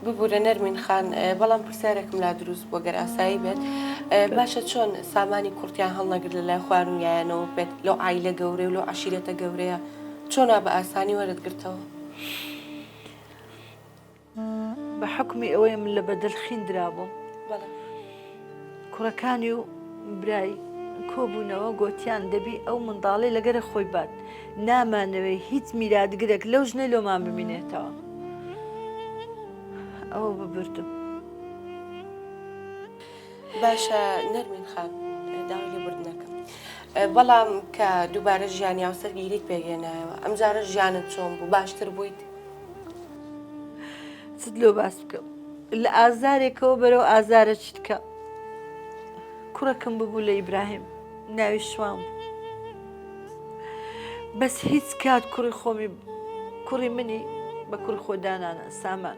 ببورە نەرمین خان بەڵام پرسیارێکم لا دروست بووە گەر ئاسایی بێت باشە چۆن سامانی کوڕتیان هەڵنەگر لە لای خوارویانەوە بێت لەو ئایلە گەورەی و لەو عشیرەتە گەورەیە چۆنا بە ئاسانی وەرت گرتەوە بە حکومی ئەوەیم لە بەدەل خین درابووم کوڕەکانی و برای کۆبوونەوە گۆتیان دەبی ئەو منداڵی لەگەرە خۆی بات نامانەوەی هیچ میراتگرێک لەو ژنە لۆمان ببینێتەوە ئەوە ببردم باشە نەرمین خان داوای لێ بردنەکەم بەڵام کە دووبارە ژیانی یاوسەرگیریت پێگەێنایەوە ئەمجارە ژیانت چۆن بوو باشتر بوویت چت لۆ باس بکەم لە ئازارێکەوە بەرەو ئازارە چتکە کوڕەکەم ببوو لە ئیبراهیم ناوی شوان بوو بەس هیچ کات کوڕی خۆمی کوڕی منی بە کوڕ خۆدانانە سامان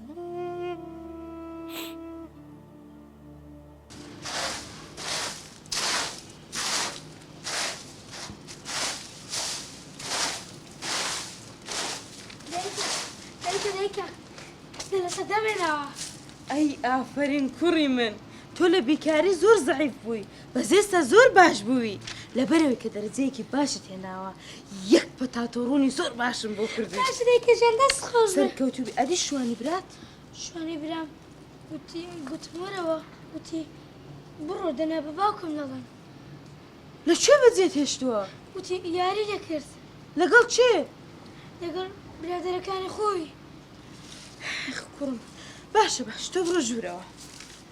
ئەی ئافرین کوڕی من تۆ لە بیکاری زۆر زعیف بووی بەس ئێستا زۆر باش بووی لەبەرەوەی کە دەرەجەیەکی باشت هێناوە یەک پەتاتۆ ڕوونی زۆر باشم بۆ کردی باشێکەژان دەست خۆش سەرکەوتوبی ئەدی شوانی برات شوانی برام وتی گوتمەرەوە وتی بڕۆ دەنا بە باوکم نەڵێن لە کوێ بەجێت هێشتووە وتی یاری دەکرد لەگەڵ چێ لەگەڵ برادەرەکانی خۆی کوڕم باشە باش تۆ بڕۆ ژوورەوە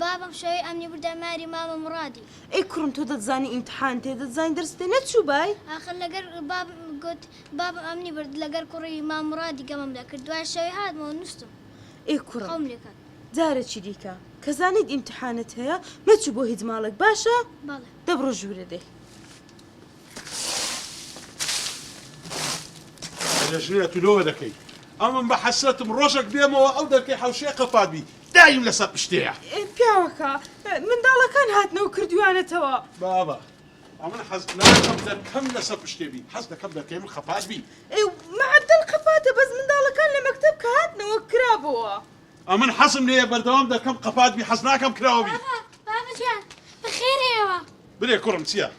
بابم شەوەی ئەمنی بردە ماری مامە مڕادی. ئەی کوڕم تۆ دەتزانی ئیمتحان تێ دەتزانی دەرس تێ نەچووبای؟ ئاخر لەگەر بابم گوت بابم ئەمنی برد لەگەر کوڕی مام مڕادی گەمەم لەکرد دوای شەوی هاتمەوە نوستم ئەی کوڕم خەوم لێکەت. جارە چی دیکە کە زانیت ئیمتحانت هەیە مەچوو بۆ هیچ ماڵێک باشە؟ بەڵێ. دەبڕۆ ژوورە دەی. لەژنێ تو لۆ دەکەی ئەمن بە حەسرەتم ڕۆژەک بێمەوە ئەو دەرکەی حەوشێ قەپات بی دایم لەسەر پشتەیە پیاوەکە منداڵەکان هاتنەوە کردویانەتەوە بابە ئەمن حەز ناکەم دەرکەم لەسەر پشتێ بی حەز دەکەم دەرکەی من قەپات بی معدل قەپاتە بەس منداڵەکان لە مەکتب کە هاتنەوە کرابەوە ئەمن حەزم لێیە بەردەوام دەرکەم قەپات بی حەز ناکەم کراوە بی بابە جان بەخێرەوە برێ کوڕم چییە؟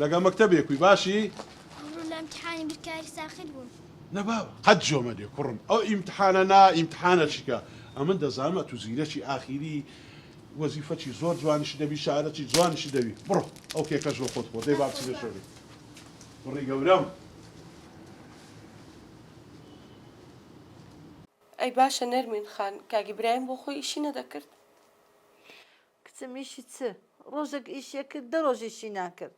لەگەڵ مەکتەبێ کوی باشی؟ ئەمڕۆ لە ئیمتحانی بیرکاری ساخت بووم. نە بابە قەت جۆ مەدێ کوڕم ئەو ئیمتحانە نا ئیمتحانە چیکە ئەمن دەزانم ئەتوو زیرەکی ئاخیری وەزیفەچی زۆر جوانیشی دەبی شارەچی جوانیشی دەبی بڕۆ ئەو کێکەش بۆ خۆت خۆ دەی با بچینە ژوورێ کوڕی گەورەم. ئەی باشە نەرمین خان کاک ئیبراهیم بۆ خۆی ئیشی نەدەکرد؟ کچم ئیشی چ ڕۆژەک ئیشیە کرد دە ڕۆژ ئیشی ناکرد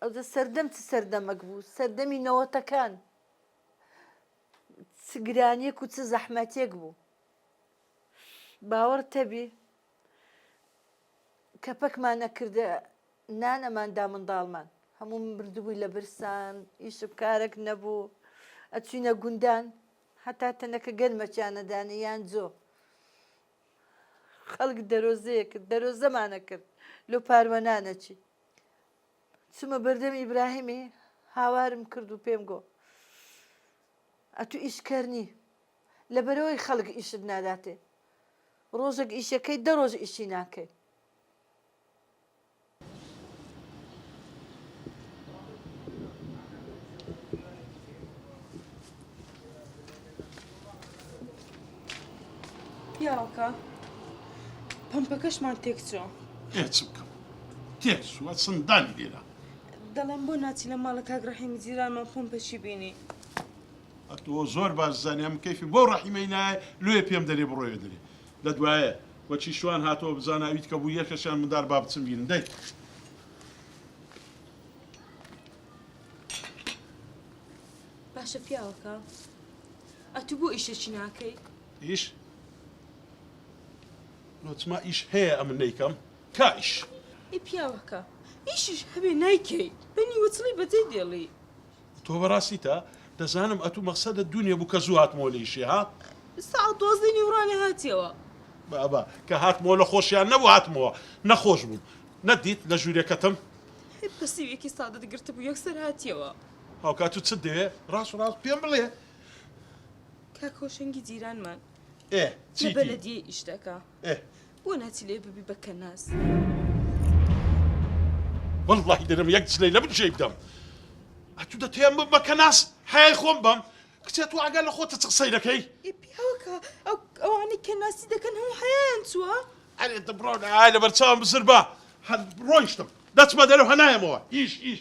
ئەوجە سەردەم چ سەردەمەک بوو سەردەمی نەوەتەکان چ گرانیەک و چ زەحمەتێک بوو باوەڕ تەبی کە پەکمان نەکردە نان ئەماندا منداڵمان هەموو بردبووی لە برسان ئیشب کارێک نەبوو ئەچینە گوندان هەتا تەنەکە گەرمەچیانەدانە یان جۆ خەڵک دەرۆزەیە کرد دەرۆزەمانە کرد لۆ پاروەنا نەچی چمە بەردەم ئیبراهیمی هاوارم کرد و پێم گۆ ئەتو ئیشکەرنی لە بەرەوەی خەڵک ئیشت ناداتێ ڕۆژێک ئیشەکەی دە ڕۆژ ئیشی ناکەی پیاوەکە پەمپەکەشمان تێک چۆ ئێچ بکەم تێک سووە سندانی لێرە دەڵێن بۆ ناچی لە ماڵە کاک ڕەحیمی جیرانمان پۆم پەچی بینی ئەتۆ زۆر باش زانیان کەفی بۆ ڕەحیمەی نایە لێ پێم دەرێ بڕۆێ دەرێ لە دوایێ وە چی شوان هاتەوە بزانە ئەویت کە بوو یەکەشیان مندار با بچم بیرن دەی. باشە پیاوەکە ئەتو بۆ ئیشەکی ناکەی. ئیش؟ لۆچما ئیش هەیە ئەمن نەیکەم کا ئیش. ئەی پیاوەکە ئیشیش هەبێ نایکەی بە نیوەچڵی بەجێ دێڵی. تۆ بەڕاستی تا دەزانم ئەتوو مەقسەدت دوو نیە بوو کە زوو هاتمەوە لە ئیشێ ها. سەعات دوازدەی نیوڕانێ هاتیەوە. بابە کە هاتمەوە لە خۆشیان نەبوو هاتمەوە نەخۆش بووم نەتدیت لە ژوورێکەتم. هەی پەسیوێکی سادەت گرتبوو یەکسەر هاتیەوە. هاوکات تۆ چت دەوێ ڕاست ڕاست پێم بڵێ. کاک هۆشەنگی جیرانمان ئێ چیتی؟ لە بەلەدیەی ئیش دەکا. ئێ بۆ ناچی لێ ببی بە کەناز. وەڵڵاهی دەرم یەک جلەی لە من جێی بدەم ئەتوو دەتەیەم بم بە کەناز حەیای خۆم بەم کچێ تۆ ئەگەر لە خۆتە چ قسەی دەکەی ئێ پیاوەکە ئەو ئەوانەی کە ناسی دەکەن هەموو حەیایان چووە ئەرێ دەبڕۆن ئای لەبەر چاوم بزر بە هەر ڕۆیشتم دەچمە دەرەوە نایەمەوە ئیش ئیش